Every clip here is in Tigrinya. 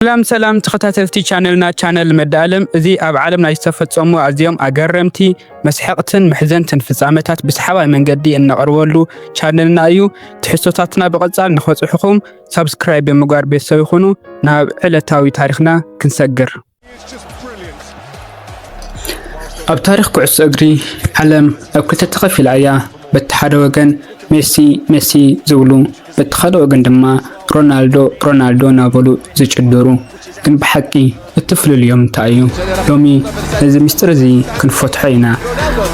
ሰላም ሰላም ተኸታተልቲ ቻነልና ቻነል መዳኣለም እዚ ኣብ ዓለም ናይ ዝተፈጸሙ ኣዝዮም ኣገረምቲ መስሐቕትን መሕዘንትን ፍጻመታት ብሰሓባይ መንገዲ እነቕርበሉ ቻነልና እዩ። ትሕዝቶታትና ብቐጻል ንኸጽሑኹም ሳብስክራይብ ብምግባር ቤተሰብ ይኹኑ። ናብ ዕለታዊ ታሪኽና ክንሰግር። ኣብ ታሪኽ ኩዕሶ እግሪ ዓለም ኣብ ክልተ ተኸፊላ እያ። በቲ ሓደ ወገን ሜሲ ሜሲ ዝብሉ በቲ ካልእ ወገን ድማ ሮናልዶ ሮናልዶ እናበሉ ዝጭድሩ። ግን ብሓቂ እቲ ፍልልዮም እንታይ እዩ? ሎሚ ነዚ ምስጢር እዚ ክንፈትሖ ኢና።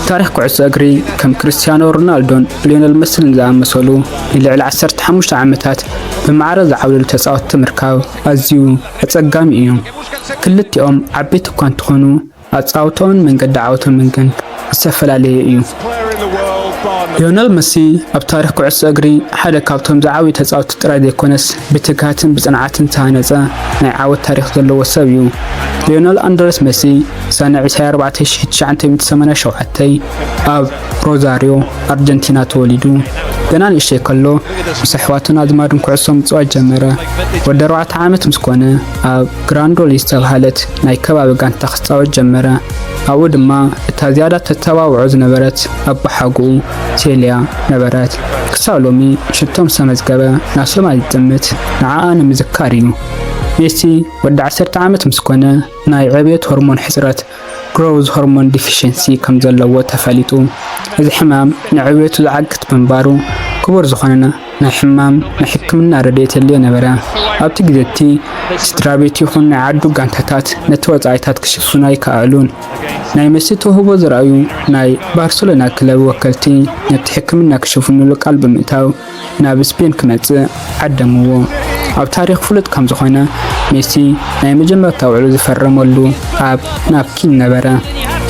ታሪኽ ኩዕሶ እግሪ ከም ክርስትያኖ ሮናልዶን ሊዮነል መስልን ዝኣመሰሉ ንልዕሊ ዓሰርተ ሓሙሽተ ዓመታት ብማዕረ ዝዓብለሉ ተጻወትቲ ምርካብ ኣዝዩ ኣጸጋሚ እዩ። ክልቲኦም ዓበይቲ እኳ እንተኾኑ ኣጻውትኦን መንገዲ ዓወቶምን ግን ዝተፈላለየ እዩ። ሊዮነል መሲ ኣብ ታሪኽ ኩዕሶ እግሪ ሓደ ካብቶም ዝዓብዩ ተጻውቲ ጥራይ ዘይኮነስ ብትግሃትን ብጽንዓትን ዝተሃነጸ ናይ ዓወት ታሪኽ ዘለዎ ሰብ እዩ። ሊዮነል ኣንድረስ መሲ ሰነ 24987 ኣብ ሮዛርዮ ኣርጀንቲና ተወሊዱ። ገና ንእሽተይ ከሎ ምስ ኣሕዋቱን ኣዝማዱን ኩዕሶ ምጽዋት ጀመረ። ወዲ ኣርባዕተ ዓመት ምስ ኮነ ኣብ ግራንዶል ዝተብሃለት ናይ ከባቢ ጋንታ ክጻወት ጀመረ። ኣብኡ ድማ እታ ዝያዳ ተተባብዖ ዝነበረት ኣቦሓጎኡ ሴልያ ነበረት። ክሳብ ሎሚ ሽቶ ምስ ኣመዝገበ ናብ ሰማይ ዝጥምት ንዓኣ ንምዝካር እዩ። ሜሲ ወዲ ዓሰርተ ዓመት ምስ ኮነ ናይ ዕብየት ሆርሞን ሕጽረት ግሮውዝ ሆርሞን ዲፊሸንሲ ከም ዘለዎ ተፈሊጡ እዚ ሕማም ንዕብየቱ ዝዓግት ብምንባሩ ክቡር ዝኾነ ናይ ሕማም ናይ ሕክምና ረድኤት የድልዮ ነበረ። ኣብቲ ግዜ እቲ ስድራቤት ይኹን ናይ ዓዱ ጋንታታት ነቲ ወጻኢታት ክሽፍኑ ኣይከኣእሉን። ናይ መሲ ተውህቦ ዘርኣዩ ናይ ባርሰሎና ክለብ ወከልቲ ነቲ ሕክምና ክሽፍኑሉ ቃል ብምእታው፣ ናብ ስፔን ክመጽእ ዓደምዎ። ኣብ ታሪኽ ፍሉጥ ከም ዝኾነ ሜሲ ናይ መጀመርታ ውዕሉ ዝፈረመሉ ኣብ ናፕኪን ነበረ።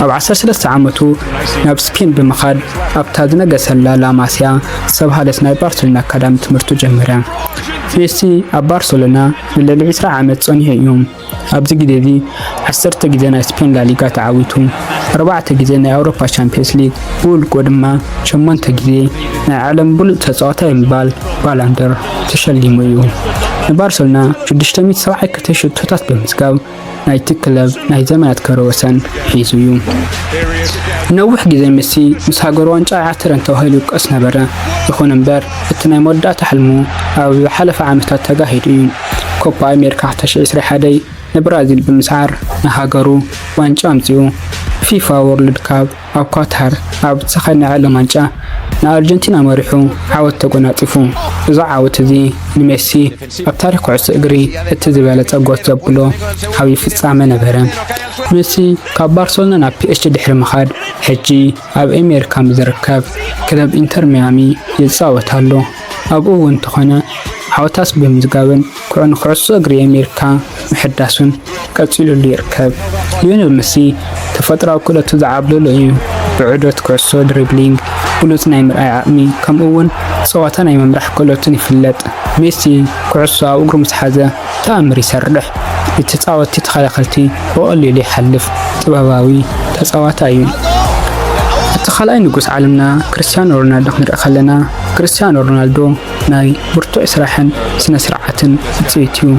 ኣብ ዓሰርተ ሰለስተ ዓመቱ ናብ ስፔን ብምኻድ ኣብታ ዝነገሰላ ላማሲያ ዝተብሃለት ናይ ባርሰሎና ኣካዳሚ ትምህርቱ ጀመረ። ሜሲ ኣብ ባርሰሎና ንልዕሊ ዕስራ ዓመት ጸኒሑ እዩ። ኣብዚ ግዜ እዚ ዓሰርተ ግዜ ናይ ስፔን ላሊጋ ተዓዊቱ፣ ኣርባዕተ ግዜ ናይ ኣውሮፓ ቻምፕዮንስ ሊግ፣ ብውልቁ ድማ ሸሞንተ ግዜ ናይ ዓለም ብሉጽ ተጻዋታይ ብምባል ባላንዶር ተሸሊሙ እዩ። ንባርሰሎና ሽዱሽተ ሚእቲ ሰብዓይ ክልተ ሽቶታት ብምዝጋብ ናይቲ ክለብ ናይ ዘመናት ክብረ ወሰን ሒዙ እዩ። ንነዊሕ ግዜ ሜሲ ምስ ሃገሩ ዋንጫ ኣይዓትርን ተባሂሉ ይውቀስ ነበረ። ይኹን እምበር እቲ ናይ መወዳእታ ሕልሙ ኣብ ዝሓለፈ ዓመታት ተጋሂዱ እዩ። ኮፓ ኣሜሪካ 2021 ንብራዚል ብምስዓር ንሃገሩ ዋንጫ ኣምጺኡ። ፊፋ ዎርልድ ካፕ ኣብ ኳታር ኣብ ዝተኻየድ ናይ ዓለም ዋንጫ ንኣርጀንቲና መሪሑ ዓወት ተጎናጺፉ። እዚ ዓወት እዚ ንሜሲ ኣብ ታሪኽ ኩዕሶ እግሪ እቲ ዝበለጸ ጎት ዘብሎ ዓብዪ ፍጻመ ነበረ። ሜሲ ካብ ባርሰሎና ናብ ፒኤስጂ ድሕሪ ምኻድ ሕጂ ኣብ ኣሜሪካ ምስ ዝርከብ ክለብ ኢንተር ሚያሚ ይጻወት ኣሎ። ኣብኡ እውን እንተኾነ ዓወታት ብምዝጋብን ኩዑ ንኩዕሶ እግሪ ኣሜሪካ ምሕዳሱን ቀፂሉሉ ይርከብ። ሊዮኔል መሲ ተፈጥሮኣዊ ክእለቱ ዝዓብለሎ እዩ። ብዑደት ኩዕሶ፣ ድሪብሊንግ፣ ብሉፅ ናይ ምርኣይ ዓቕሚ ከምኡ እውን ፀዋታ ናይ ምምራሕ ክእለቱን ይፍለጥ። ሜሲ ኩዕሶ ኣብ እግሩ ምስ ሓዘ ተኣምር ይሰርሕ። ንተፃወትቲ ተኸላኸልቲ ብቐሊሉ ይሓልፍ። ጥበባዊ ተፃዋታይ እዩ። እቲ ካልኣይ ንጉስ ዓለምና ክርስቲያኖ ሮናልዶ ክንርኢ ከለና ክርስትያኖ ሮናልዶ ናይ ብርቱዕ ስራሕን ስነ ስርዓትን ውፅኢት እዩ።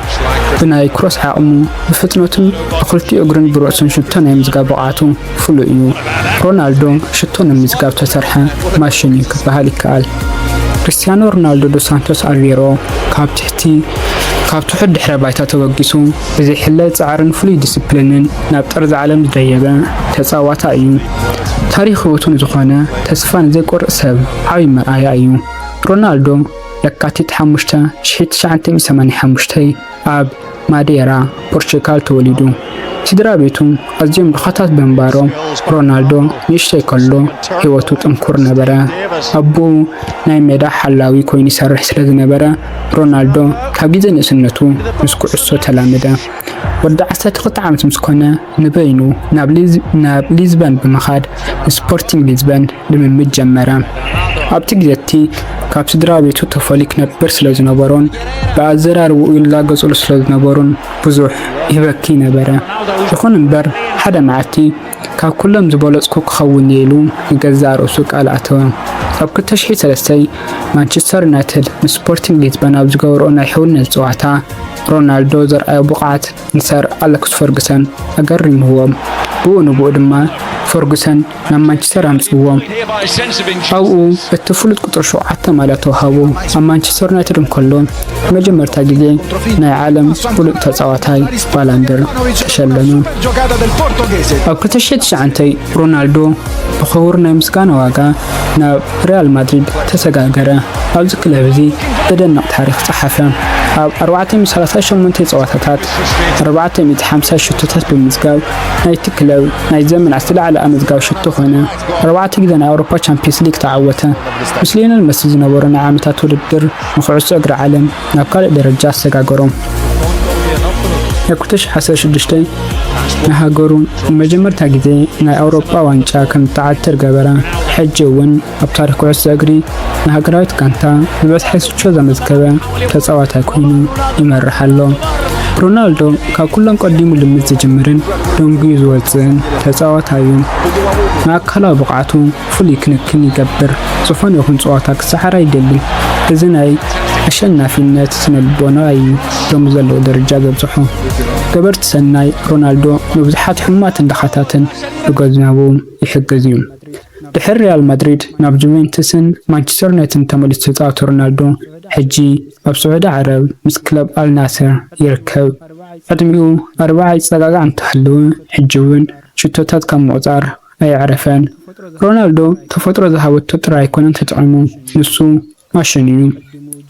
ብናይ ክሮስ ዓቕሙ፣ ብፍጥነቱን ብክልቲኡ እግሩን ብርእሱን ሽቶ ናይ ምዝጋብ ብቕዓቱ ፍሉይ እዩ። ሮናልዶ ሽቶ ንምዝጋብ ዝተሰርሐ ማሽን እዩ ክበሃል ይከኣል። ክርስትያኖ ሮናልዶ ዶ ሳንቶስ ኣቬሮ ካብ ትሕቲ ካብ ትሑት ድሕረ ባይታ ተበጊሱ ብዘይሕለል ጻዕርን ፍሉይ ዲስፕሊንን ናብ ጠርዚ ዓለም ዝደየበ ተጻዋታ እዩ። ታሪኽ ህይወቱ ንዝኾነ ተስፋ ንዘይቆርፅ ሰብ ዓብይ መርኣያ እዩ። ሮናልዶ ለካቲት 5 1985 ኣብ ማዴራ ፖርቹጋል ተወሊዱ። ስድራ ቤቱ ኣዝዮም ድኻታት ብምንባሮም ሮናልዶ ንእሽተይ ከሎ ህይወቱ ጥንኩር ነበረ። ኣቦኡ ናይ ሜዳ ሓላዊ ኮይኑ ይሰርሕ ስለ ዝነበረ ሮናልዶ ካብ ግዜ ንእስነቱ ምስ ኩዕሶ ተላመደ። ወዲ 12 ዓመት ምስ ኮነ ንበይኑ ናብ ሊዝበን ብምኻድ ንስፖርቲንግ ሊዝበን ልምምድ ጀመረ። ኣብቲ ግዜቲ ካብ ስድራ ቤቱ ተፈልዩ ክነብር ስለ ዝነበሮን ብኣዘራርባኡ ይላገጽሉ ስለ ዝነበሩን ብዙሕ ይበኪ ነበረ። ይኹን እምበር ሓደ መዓልቲ ካብ ኩሎም ዝበለጽኩ ክኸውን እየ ኢሉ ንገዛእ ርእሱ ቃል ኣተወ። ኣብ 2003 ማንቸስተር ዩናይትድ ንስፖርቲንግ ሊዝበን ኣብ ዝገበርኦ ናይ ሕውነት ጸዋታ ሮናልዶ ዘርኣዮ ብቕዓት ንሰር ኣለክስ ፈርጉሰን ኣገሪምዎም፣ ብኡ ንብኡ ድማ ፈርጉሰን ናብ ማንቸስተር ኣምጽዎም። ኣብኡ እቲ ፍሉጥ ቁጽሪ ሸውዓተ ማልያ ተዋሃቦ። ኣብ ማንቸስተር ዩናይትድ እንከሎ ንመጀመርታ ግዜ ናይ ዓለም ብሉጽ ተጻዋታይ ባላንድር ተሸለመ። ኣብ ክልተ ሽሕን ትሽዓንተይ ሮናልዶ ብኽቡር ናይ ምስጋና ዋጋ ናብ ሪያል ማድሪድ ተሰጋገረ። ኣብዚ ክለብ እዚ ዘደንቕ ታሪኽ ጸሓፈ። ኣብ 438 ጸወታታት 450 ሽቶታት ብምዝጋብ ናይቲ ክለብ ናይ ዘመናት ዝለዓለ ኣመዝጋቢ ሽቶ ኾይነ። ኣርባዕተ ግዜ ናይ ኣውሮፓ ቻምፒየንስ ሊግ ተዓወተ። ምስ ሊዮነል መሲ ዝነበሮ ናይ ዓመታት ውድድር ንኩዕሶ እግሪ ዓለም ናብ ካልእ ደረጃ ኣሰጋገሮም። ኣብ 2016 ንሃገሩ ንመጀመርታ ግዜ ናይ ኣውሮጳ ዋንጫ ከም እትዓትር ገበረ። ሕጂ እውን ኣብ ታሪክ ኩዕሶ እግሪ ንሃገራዊት ጋንታ ዝበዝሐ ስቾ ዘመዝገበ ተጻዋታይ ኮይኑ ይመርሕ ኣሎ። ሮናልዶ ካብ ኩሎም ቀዲሙ ልምድ ዝጅምርን ደንጉዩ ዝወፅእን ተጻዋታይ እዩ። ንኣካላዊ ብቕዓቱ ፍሉይ ክንክን ይገብር። ዝኾነ ይኹን ፀዋታ ክሰዓር ኣይደልን። እዚ ናይ ኣሸናፊነት ስነልቦና እዩ ሎሚ ዘለዎ ደረጃ ዘብፅሖ። ገበርቲ ሰናይ ሮናልዶ ንብዙሓት ሕሙማትን ድኻታትን ብገንዘቡ ይሕግዝ እዩ። ድሕሪ ሪያል ማድሪድ ናብ ጁቬንቱስን ማንቸስተር ዩናይትድን ተመሊሱ ዝተፃወተ ሮናልዶ ሕጂ ኣብ ስዑዲ ዓረብ ምስ ክለብ ኣልናስር ይርከብ። ዕድሚኡ ኣርብዓ ይፀጋጋዕ እንተሃለወ ሕጂ እውን ሽቶታት ካብ ምቑፃር ኣየዕረፈን ሮናልዶ ተፈጥሮ ዝሃበቶ ጥራይ ኣይኮነን ተጠቂሙ ንሱ ማሽን እዩ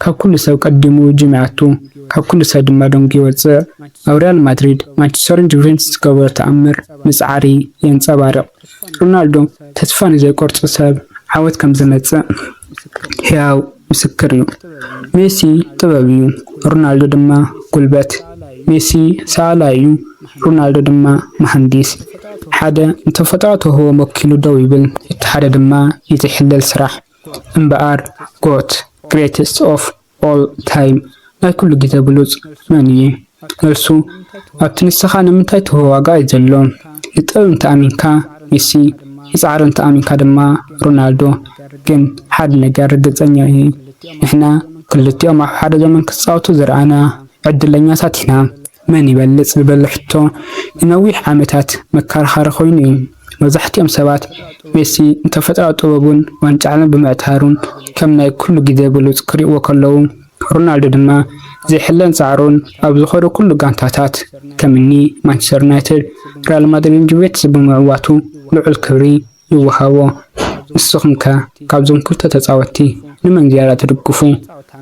ካብ ኩሉ ሰብ ቀዲሙ ጅም ይኣቱ ካብ ኩሉ ሰብ ድማ ደንጉዩ ይወጽእ ኣብ ሪያል ማድሪድ ማንቸስተርን ጁቬንትስ ዝገበሮ ተኣምር ምጽዓሪ የንጸባርቅ ሮናልዶ ተስፋ ንዘይቆርጽ ሰብ ዓወት ከምዝመጽእ ህያው ምስክር እዩ። ሜሲ ጥበብ እዩ፣ ሮናልዶ ድማ ጉልበት። ሜሲ ሰኣላይ እዩ፣ ሮናልዶ ድማ መሃንዲስ። ሓደ ንተፈጥሮ ተውህቦም ወኪሉ ደው ይብል፣ እቲ ሓደ ድማ ይትሕለል ስራሕ። እምበኣር ጎት፣ ግሬተስት ኦፍ ኦል ታይም፣ ናይ ኩሉ ግዜ ብሉጽ፣ መን እዩ? መልሱ፣ ኣብቲ ንሰኻ ንምንታይ ትህቦ ዋጋ እዩ ዘሎ። ንጥበብ እንተ ኣሚንካ ሜሲ፣ ንጻዕሪ እንተ ኣሚንካ ድማ ሮናልዶ። ግን ሓደ ነገር ርግጸኛ እየ፣ ንሕና ክልቲኦም ኣብ ሓደ ዘመን ክጻወቱ ዝረኣና ዕድለኛታት ኢና። መን ይበልጽ ዝበል ሕቶ ንነዊሕ ዓመታት መከራኸሪ ኮይኑ እዩ። መብዛሕቲኦም ሰባት ሜሲ ንተፈጥራዊ ጥበቡን ዋንጫ ዓለም ብምዕታሩን ከም ናይ ኩሉ ግዜ ብሉጽ ክሪእዎ ከለዉ፣ ሮናልዶ ድማ ዘይሕለል ጻዕሩን ኣብ ዝኸዶ ኩሉ ጋንታታት ከምኒ ማንቸስተር ዩናይትድ፣ ሪያል ማድሪድን ጁቬትስን ብምዕዋቱ ልዑል ክብሪ ይወሃቦ። ንስኹምከ ካብዞም ክልተ ተጻወትቲ ንመን ዝያዳ ትድግፉ?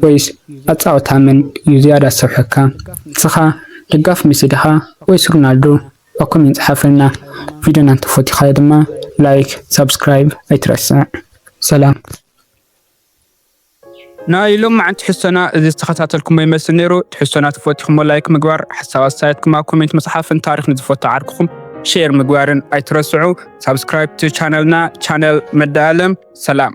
ወይስ ኣጻውታ መን እዩ ዝያዳ ዝሰርሐካ? ንስኻ ደጋፊ ሜሲ ዲኻ ወይስ ሮናልዶ? ኣብ ኮሜንት ጸሓፈልና። ቪድዮና እንተፈቲኻዮ ድማ ላይክ ሳብስክራይብ ኣይትረስዕ። ሰላም። ናይ ሎምዓንቲ ትሕዝቶና እዚ ዝተኸታተልኩሞ ይመስል ነይሩ። ትሕዝቶና ተፈቲኹሞ ላይክ ምግባር፣ ሓሳብ ኣስተያየትኩም ኣብ ኮሜንት ምጽሓፍን ታሪኽ ንዝፈቱ ዓርክኹም ሼር ምግባርን ኣይትረስዑ። ሳብስክራይብ ቻነልና ቻነል መዳ ኣለም። ሰላም።